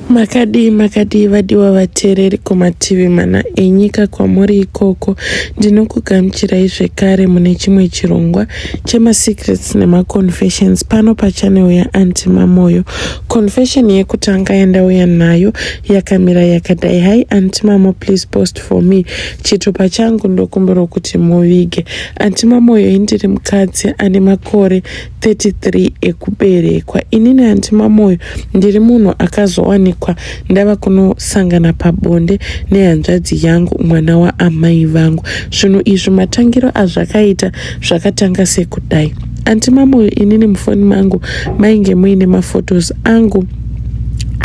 Makadii makadii vadiwa vateereri kumativi mana enyika kwamuri ikoko. Ndinokugamuchirai zvekare mune chimwe chirongwa chemaSecrets nemaConfessions pano pachanel yaAunty Mamoyo. Confession yekutanga yandauya nayo yakamira yakadai. Hi Aunty Mamo please post for me chitupa changu ndokumbirwa kuti muvige. Aunty Mamoyo indiri mukadzi ane makore 33 ekuberekwa ini naAnti Mamoyo ndiri munhu akazowanikwa ndava kunosangana pabonde nehanzvadzi yangu mwana waamai vangu. Zvinhu izvi matangiro azvakaita zvakatanga sekudai. Anti Mamoyo inini mufoni mangu mainge muine mafotos angu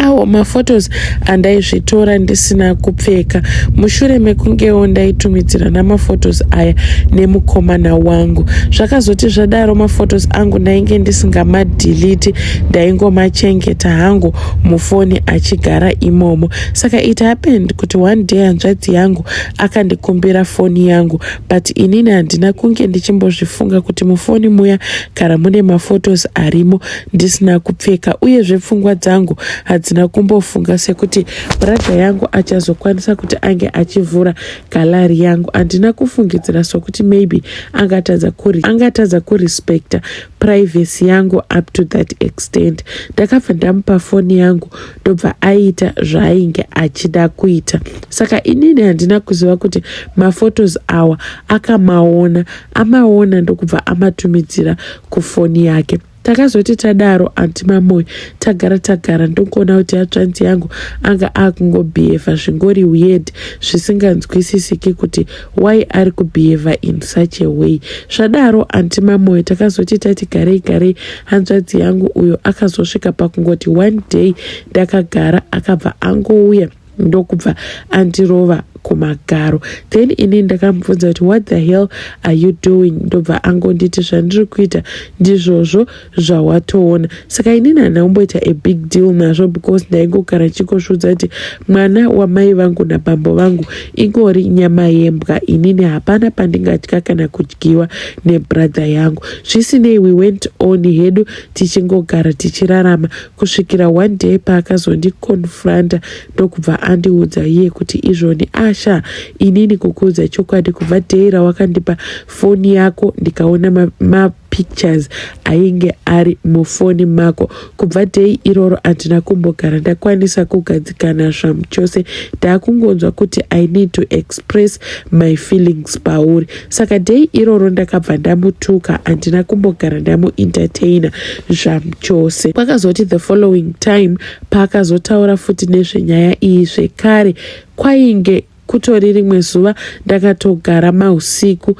awo maphotos andaizvitora ndisina kupfeka mushure mekungewo ndaitumidzirana maphotos aya nemukomana wangu zvakazoti zvadaro maphotos angu ndainge ndisingamadhiliti ndaingomachengeta hangu mufoni achigara imomo saka it happened kuti one day hanzvadzi yangu akandikumbira foni yangu but inini handina kunge ndichimbozvifunga kuti mufoni muya kana mune maphotos arimo ndisina kupfeka uyezve pfungwa dzangu hadzina kumbofunga sekuti bradha yangu achazokwanisa kuti ange achivhura galari yangu handina kufungidzira sokuti maybe angatadza kuri angatadza kurespecta privacy yangu up to that extent ndakabva ndamupa foni yangu ndobva aita zvaainge achida kuita saka inini handina kuziva kuti mafotos awa akamaona amaona ndokubva amatumidzira kufoni yake Takazoti tadaro anti Mamoyo tagara tagara ndokuona kuti atsvanzi yangu anga akungobehave zvingori weird zvisinganzwisisiki kuti why ari kubehave in such a way. Zvadaro anti Mamoyo takazoti tati garei garei hanzvadzi yangu uyo akazosvika pakungoti one day ndakagara akabva angouya ndokubva andirova kumagaro then ini ndakamubvunza kuti what the hell are you doing ndobva angonditi zvandiri kuita ndizvozvo zvawatoona saka inini handina kumboita a big deal nazvo because ndaingogara chikosvudza kuti mwana wamai vangu nabambo vangu ingori nyama yembwa inini hapana pandingatya kana kudyiwa nebrother yangu zvisinei we went on hedu tichingogara tichirarama kusvikira one day paakazondiconfronta ndokubva andiudza iye kuti izvoni asha inini kukuudza chokwadi kubva day rawakandipa foni yako ndikaona mapictures ma ainge ari mufoni mako kubva day iroro handina kumbogara ndakwanisa kugadzikana zvamu chose ndaakungonzwa kuti i need to express my feelings pauri saka dei iroro ndakabva ndamutuka handina kumbogara ndamuentertaina zvamchose kwakazoti the following time paakazotaura futi nezvenyaya iyi zvekare kwainge kutori rimwe zuva ndakatogara mausiku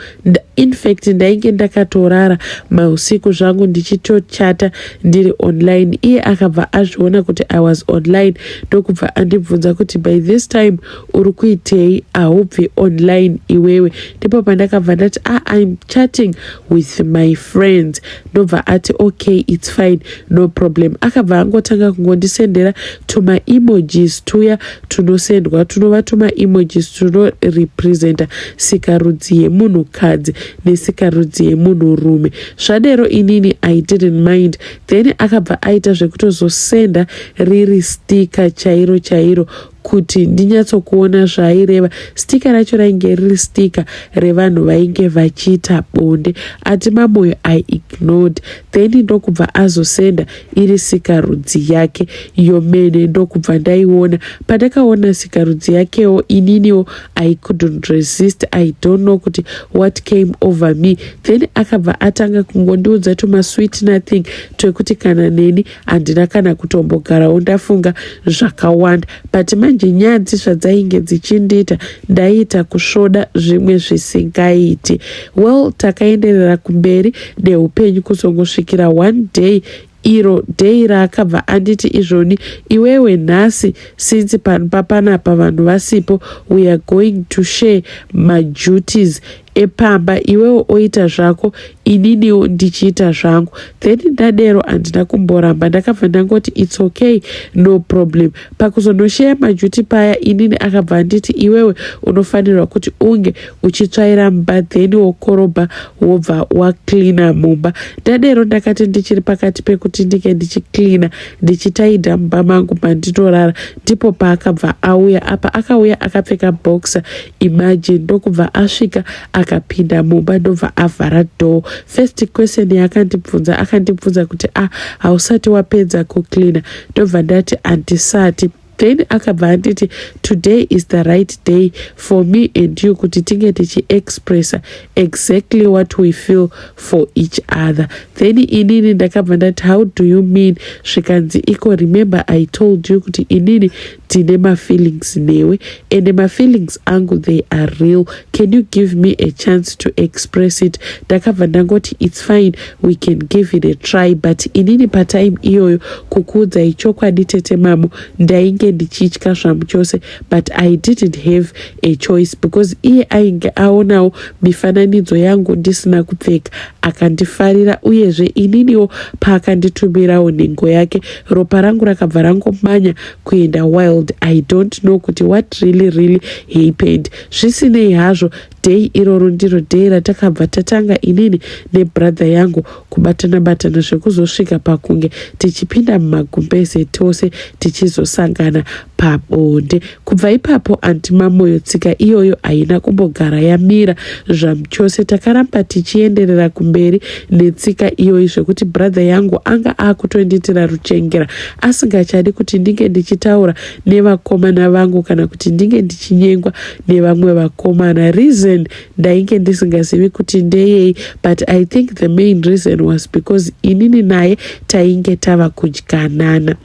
infact ndainge ndakatorara mausiku zvangu ndichitochata ndiri online iye akabva azviona kuti i was online ndokubva andibvunza kuti by this time uri kuitei ahubve online iwewe ndipo pandakabva ndati a ah, im chatting with my friends ndobva ati okay its fine no problem akabva angotanga kungondisendera tumaemojis tuya tunosendwa tunova tumaemojis tunorepresenta sikarudzi yemunhukadzi nesikarudzi yemunhurume zvadero inini i didn't mind then akabva aita zvekutozosenda riri stika chairo chairo kuti ndinyatsokuona zvaaireva. Sticker racho rainge riri sticker revanhu vainge vachiita bonde ati Mamoyo I ignored then ndokubva azosenda iri sikarudzi yake iyo mene ndokubva ndaiona. Pandakaona sikarudzi yakewo ininiwo I couldn't resist I don't know kuti what came over me then akabva atanga kungondiudza tumasweet nothing twekuti kana neni handina kana kutombogarawo ndafunga zvakawanda but manje nyadzi zvadzainge dzichindiita ndaiita kusvoda zvimwe zvisingaiti well takaenderera kumberi neupenyu kuzongosvikira one day iro dei raakabva anditi izvoni iwewe nhasi since panpa panapa vanhu vasipo weare going to share maduties epamba iwewo oita zvako ininiwo ndichiita zvangu then ndadero handina kumboramba ndakabva ndangoti its okay no problem pakuzonosheya majuti paya inini akabva anditi iwewe unofanirwa kuti unge uchitsvaira mba then wokorobha wobva wacleana mumba ndadero ndakati ndichiri pakati pekuti ndinge ndichicleana ndichitaidha mumba mangu mandinorara ndipo paakabva auya apa akauya akapfeka boxer Imagine ndokubva asvika akapinda mumba ndobva avhara door. First question yaakandibvunza akandibvunza kuti ah hausati wapedza kucleaner ndobva ndati handisati then akabva anditi today is the right day for me and you kuti tinge tichiexpressa exactly what we feel for each other then inini ndakabva ndati how do you mean zvikanzi iko remember i told you kuti inini Tine ma feelings newe and ma feelings angu they are real can you give me a chance to express it ndakabva ndangoti it's fine we can give it a try but inini patime iyoyo kukuudzai chokwadi tete mamo ndainge ndichitya zvamu chose but i didn't have a choice because iye ainge aonawo mifananidzo yangu ndisina kupfeka akandifarira uyezve ininiwo paakanditumirawo nhengo yake ropa rangu rakabva rangomanya kuenda wild i don't know kuti what really really happened zvisinei hazvo day iroro ndiro day ratakabva tatanga inini nebrother yangu kubatana batana zvekuzosvika pakunge tichipinda mumagumbeze tose tichizosangana pabonde kubva ipapo anti mamoyo tsika iyoyo haina kumbogara yamira zvamuchose takaramba tichienderera kumberi netsika iyoyi zvekuti brother yangu anga akutondiitira ruchengera asingachadi kuti ndinge ndichitaura nevakomana vangu kana kuti ndinge ndichinyengwa nevamwe vakomana reason ndainge ndisingazivi kuti ndeyei but i think the main reason was because inini naye tainge tava kudyanana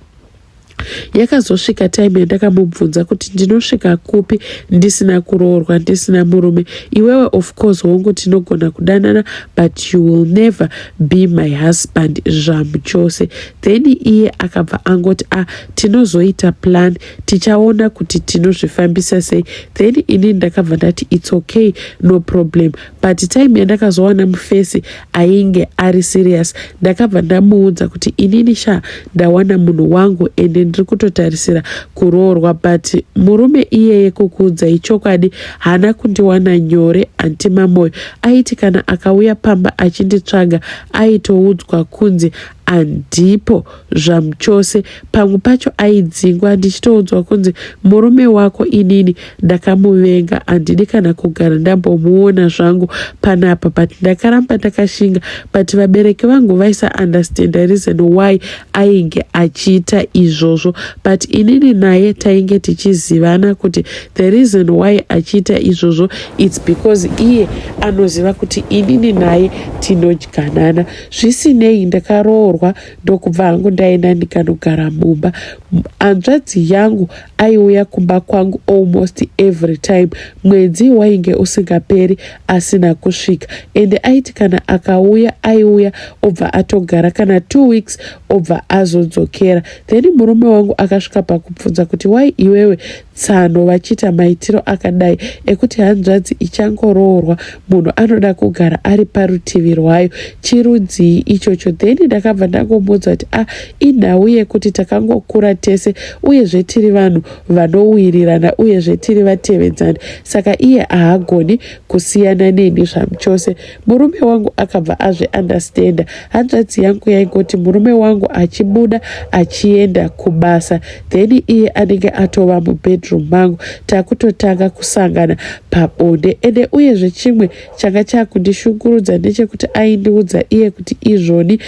yakazosvika time yandakamubvunza kuti ndinosvika kupi ndisina kuroorwa ndisina murume iwewe of course hongu tinogona kudanana but you will never be my husband zvamuchose then iye akabva angoti a ah, tinozoita plan tichaona kuti tinozvifambisa sei then ini ndakabva ndati its okay no problem but time yandakazowana mufesi ainge ari serious ndakabva ndamuudza kuti inini sha ndawana munhu wangu ende ndiri kutotarisira kuroorwa but murume iyeye kukuudzai chokwadi haana kundiwana nyore anti mamoyo aiti kana akauya pamba achinditsvaga aitoudzwa kunzi andipo zvamuchose pamwe pacho aidzingwa ndichitoudzwa kunzi murume wako inini ndakamuvenga handidi kana kugara ndambomuona zvangu panapa but ndakaramba ndakashinga but vabereki vangu vaisa understand reason why ainge achiita izvozvo but inini naye tainge tichizivana kuti the reason why achiita izvozvo its because iye anoziva kuti inini naye tinodyanana zvisinei ndakaroorwa ndokubva hangu ndaenda ndikanogara mumba hanzvadzi yangu aiuya kumba kwangu almost every time mwedzi wainge usingaperi asina kusvika ende aiti kana akauya aiuya obva atogara kana two weeks obva azodzokera then murume wangu akasvika pakubvunza kuti wai iwewe tsano vachiita maitiro akadai ekuti hanzvadzi ichangoroorwa munhu anoda kugara ari parutivi rwayo chirudzii ichocho then ndakabva ndangomudza kuti a ah, inhau yekuti takangokura tese uyezve tiri vanhu vanowirirana uyezve tiri vatevedzani saka iye ahagoni kusiyana neni zvamuchose Murume wangu akabva azvi understander. Hanzvadzi yangu yaingoti murume wangu achibuda achienda kubasa then iye anenge atova mubedroom mangu takutotanga kusangana pabonde ende uyezve chimwe changa chakundishungurudza ndechekuti aindiudza iye kuti izvoni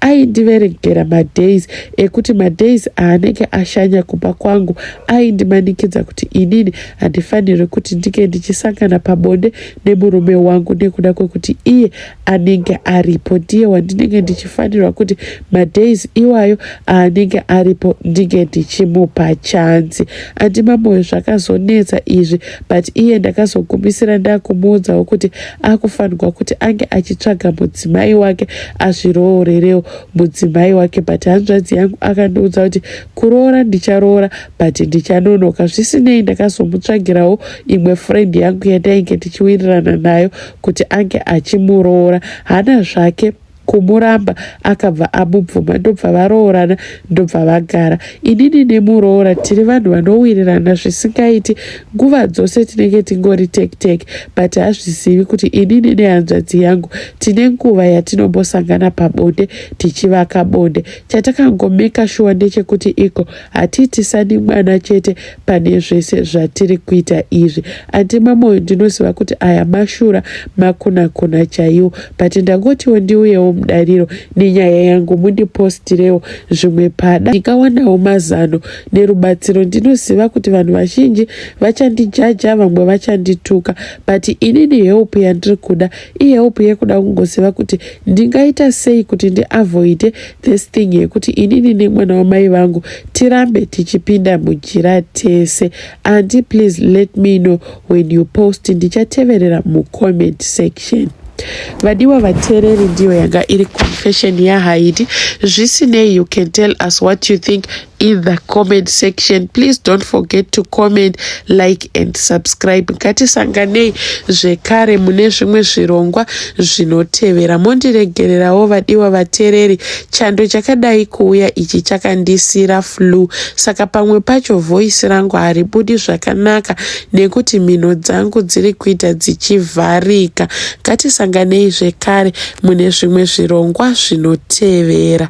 aindiverengera madays ekuti madays aanenge ashanya kumba kwangu aindimanikidza kuti inini handifanirwe kuti ndinge ndichisangana pabonde nemurume wangu nekuda kwekuti iye anenge aripo ndiye wandinenge ndichifanirwa kuti madays iwayo aanenge aripo ndinge ndichimupa chanzi andimamoyo zvakazonetsa izvi but iye ndakazogumisira ndakumuudzawo kuti akufanirwa kuti ange achitsvaga mudzimai wake azviroorerewo mudzimai wake but hanzvadzi yangu akandiudza kuti kuroora ndicharoora but ndichanonoka zvisinei ndakazomutsvagirawo imwe friend yangu yatainge tichiwirirana nayo kuti ange achimuroora hana zvake kumuramba akabva amubvuma ndobva varoorana ndobva vagara inini nemuroora tiri vanhu vanowirirana zvisingaiti nguva dzose tinenge tingori tektek but hazvizivi kuti inini nehanzvadzi yangu tine nguva yatinombosangana pabonde tichivaka bonde chatakangomeka shuwa ndechekuti iko hatiitisani mwana chete pane zvese zvatiri kuita izvi andi mamoyo ndinoziva kuti aya mashura makunakuna chaiwo but ndangotiwo ndiuyewo mudariro nenyaya yangu mundipostirewo zvimwe pada ndikawanawo mazano nerubatsiro ndinoziva kuti vanhu vazhinji vachandijaja vamwe vachandituka but inini help yandiri kuda ihelp yekuda kungoziva kuti ndingaita sei kuti ndiavoide This thing yekuti inini nemwana wamai vangu tirambe tichipinda mujira tese anti please let me know when you post ndichateverera mucomment section vadiwa vateereri ndiyo yanga iri confession yahaidi zvisinei you can tell us what you think in the comment section please don't forget to comment like and subscribe ngatisanganei zvekare mune zvimwe zvirongwa zvinotevera mondiregererawo vadiwa vatereri chando chakadai kuuya ichi chakandisira flu saka pamwe pacho voisi rangu haribudi zvakanaka nekuti mhino dzangu dziri kuita dzichivharika ngatisanganei zvekare mune zvimwe zvirongwa zvinotevera